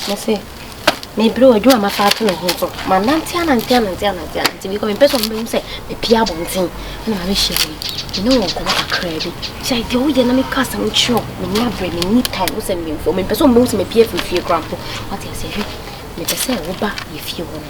Mese mebrɛ o, adwuma a mafa ato ne ho nso, manante anante anante anante anante because mempɛ sɛ wɔbɛhu sɛ mapue abɔnten na mabɛhyia wo yi. Me ne wo nkɔmmɔ kakraa bi. Sɛ deɛ woyɛ na meka asɛm kyerɛ wo, menni aberɛ, menni time, wo sɛ meyɛ mfɛw, mempɛ sɛ wɔbɛhu sɛ mapue afiri fie koraa mpo. Woate aseɛ? Hwɛ, mepɛ sɛ woba yɛn fie hɔ no.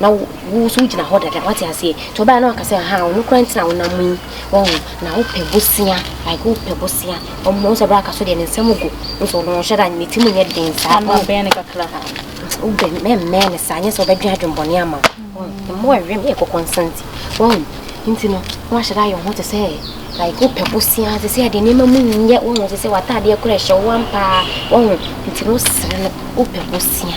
Na wo, wo nso wogyina hɔ dada, wate aseɛ. Nti ɔbaa na waka sɛ, aha, ɔno koraa nti na wonam yi, wahu. Na wopɛ bosea, like wopɛ bosea. Ɔmo, wohu sɛ berɛ a aka so deɛ ne nsam gu. Wohu sɛ ɔno ɔnhyɛ da, ne ti mu nyɛ den saa. Ama bɛn no kakra. Wobɛn, mɛmmɛn no saa, nyɛ sɛ ɔbɛdwen adwenbɔne ama wo. Wahu, mmoa a ɛwɛm yɛ kɔkɔnsa nti. Wahu, nti no, na wahyɛ da ayɛ wo ho te sɛ, like wopɛ bosea, te sɛ deɛ nneɛma mu nyɛ, wahu, te sɛ w'ataadeɛ koraa ɛhyɛ wo ampa ara, wahu. Nti no wosere no, wopɛ bosea.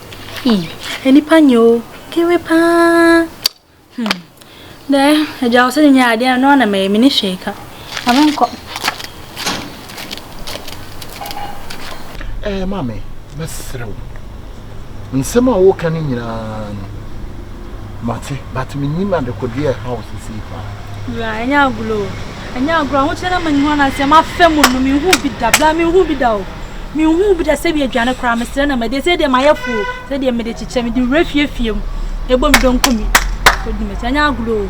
Eii nipa nyɛ o kewe paa hmm dɛ agya wo sɛ ne nyɛ adeɛ no na mɛyɛ me ne hwee ka ame nkɔ. Ɛɛ maame mɛsrɛ wo nsɛm a woka no nyinaa no. Mate, but menim adekodeɛ a ɛha wo sesei paa. Wura, ɛnyɛ agorɔ o. Ɛnyɛ agorɔ, ahokyerɛ no ama ne ho ananteɛ, mafa mu no, menhuu bi da, bra menhuu bi da o. Menhuu bi da sɛ bi aduane koraa, mesrɛ na madi, ɛsɛ deɛ mayɛ fo o, sɛ deɛ mede kyekyɛ, mede wura fie fie mu, ɛbɔ me dɔnkɔ mi, kɔdi m'akyi, ɛnyɛ agorɔ o.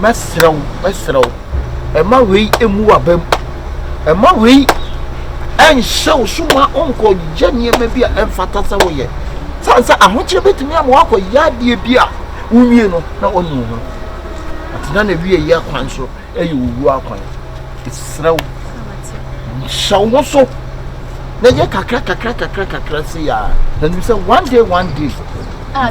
Mɛsrɛ wo, mɛsrɛ wo, mma wei mmu w'abam. Mma wei nhyɛ wo so ma wonkɔyɛ nneɛma bi a ɛmfata sɛ woyɛ. Sane sɛ ahokyere bɛtumi ama woakɔyɛ adeɛ bi a wonwie no na wanu wo ho. Atena na wie yɛ kwan so ɛyɛ owu akwan. Ɛsrɛ wo, hyɛ wo ho so na yɛ kakra kakra kakra kakra se a na nim sɛ one day one day. Ah,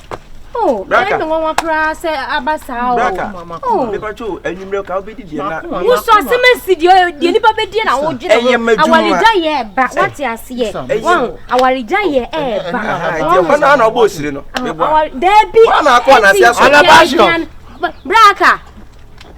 Oh, Braka. Ɛyɛ nwanwa koraa sɛ aba saa o. Braka. Oh. Bɛba to anwummerɛ ka wobɛdi deɛ na. Wosɔ asɛm asi deɛ deɛ nipa bɛdi na wodwene ho. Ɛyɛ m'adwuma. Awaregya yɛ ɛba. Wate aseɛ. Wɔn awaregya yɛ ɛba. Ɛdeɛ hɔ naa na ɔbɔ osiri no. Daabi. Wɔn na akɔ anase asɔ. Braka.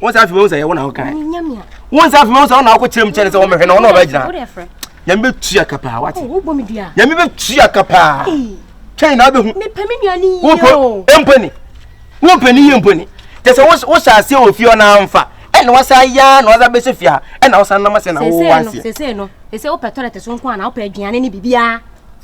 wọn sɛ afei wọn sɛ yɛ wọn na ɔka yɛ wọn sɛ afei wọn sɛ ɔna akɔ kyerɛ mu kyɛn sɛ ɔmɛhwɛ na ɔna ɔbɛ gyina nyame bɛ tua ka paa wate nyame bɛ tua ka paa twɛn na abɛhu wopɛ mpani wopɛ ne yie mpani kyɛ sɛ wohyɛ aseɛ wɔ fie ɔna amfa ɛna wasa ya na wasa bɛsɛ fie a ɛna wasa nam ase na wowɔ aseɛ sɛsɛ no sɛsɛ wopɛ tɔlɛte so nko a na wopɛ aduane ne biribiaa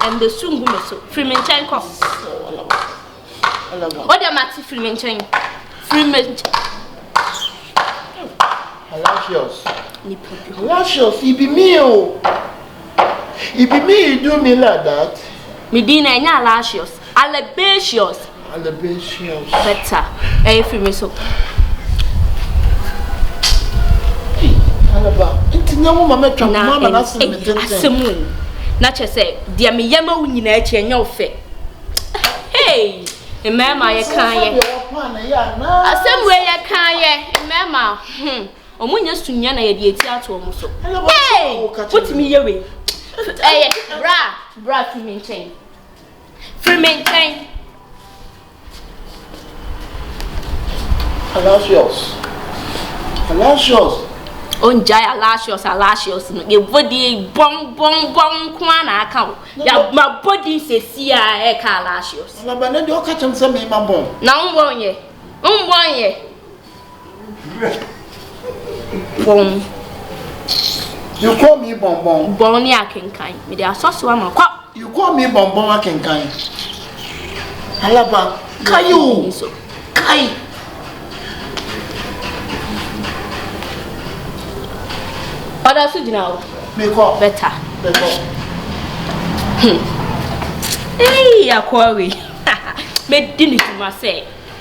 Ɛnde su ngu me so. Firi me nkyɛn kɔ. O deɛ mate firi me nkyɛn. Firi me nkyɛn. Halafios. Halafios, it be me o. It be me you do me like that. Me din na ɛnyɛ Halafios. Alabatios. Better. Hey, free me so. Hey, Alaba. Nti nya mo mama twa mo mama na se me tenten. Asemu. Na che se dia me yama wo nyina achi enya wo fe. Hey, mmarima ye kan ye. Asemu ye kan ye. Mmarima. Hmm. Omo nya sunya na ye de eti ato omo so. Hey, what me ye we? Eh, bra, bra to me nchen. Firi me nkyɛn. Alasius. Alasius. Ongyae Alasius Alasius no. Yɛbɔ din bɔm bɔm bɔm nko ara na aka o. Yɛabɔ din sɛsi a ɛka Alasius. Alaba ne deɛ ɔka kyɛm sɛ mema bɔn. Na wombɔ nyɛ. Wombɔ nyɛ. Bɔn. You call me bɔnbɔn. Bɔn ne akenkan. Mede asɔ so ama kɔ. You call me bɔnbɔn akenkan. Alaba, kae o. Kae. Ɔda so gyina o. Mekɔ. Bɛta. Mekɔ. Hmm. Ei, akɔre. Medi ne dwuma sɛ.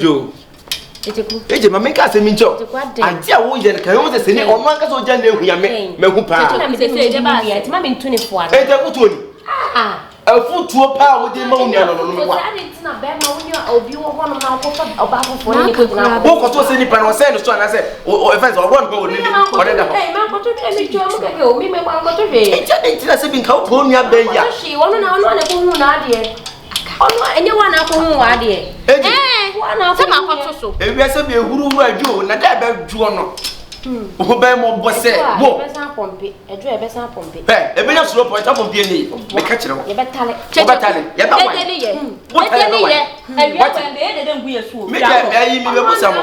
yo ɛgye ma menka asɛm nkyɛ o agye a woyɛ no kan wo sɛ sɛ ne ɔno ankasa ogya na ahua me mahu paa ɛgya wotuo ni afutuo paa wode ma wo nua no no no wa wokɔto sɛ nipa no ɔsɛe no so anasɛ ɛfɛ sɛ ɔwɔ nka ɔne ɔne da hɔ ɛgya de ntina sɛ bi nka wopɛ wo nua bɛyi a ɔno ɛnyɛ wa n'akɔ ho wa adeɛ ɛɛ wa n'akɔ sɛ ma kɔto so ewia sɛ bi ehuru huru adwo o na dɛ ɛbɛ dwoɔ no ho bɛn mo bɔ sɛ wo ɛdwo a ɛbɛsan pɔmpe ɛdwo a ɛbɛsan pɔmpe ɛ ɛbɛnya suro pɔ ɛta pɔmpe ɛni meka kyerɛ wo yɛbɛtale wɔbɛtale yɛbɛ wɔn dede ne yɛ dede ne yɛ ɛwia wɔn bɛ yɛ dede ngu yɛ suo mi dɛ ɛyi mi bɛ busa mo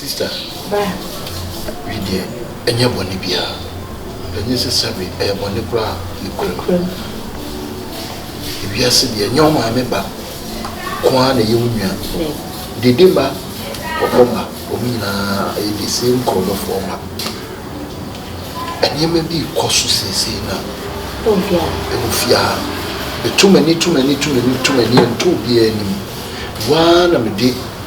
Sister, wei deɛ ɛnyɛ bɔne biara, ɛnyɛ sɛ sɛbe, ɛyɛ bɔne koraa nokorɛm. Ewiase deɛ ɛnyɛ wo maame ba ko ara na ɛyɛ wo nua. Dede mma, kɔkɔ mma, wɔn nyinaa ɛyɛ the same kurɔbɔfoɔ mma. Nneɛma bi rekɔ so seesei na ɛwɔ fie ha. Meto m'ani to m'ani to m'ani to m'ani ɛnto obiara anim. Waa na mede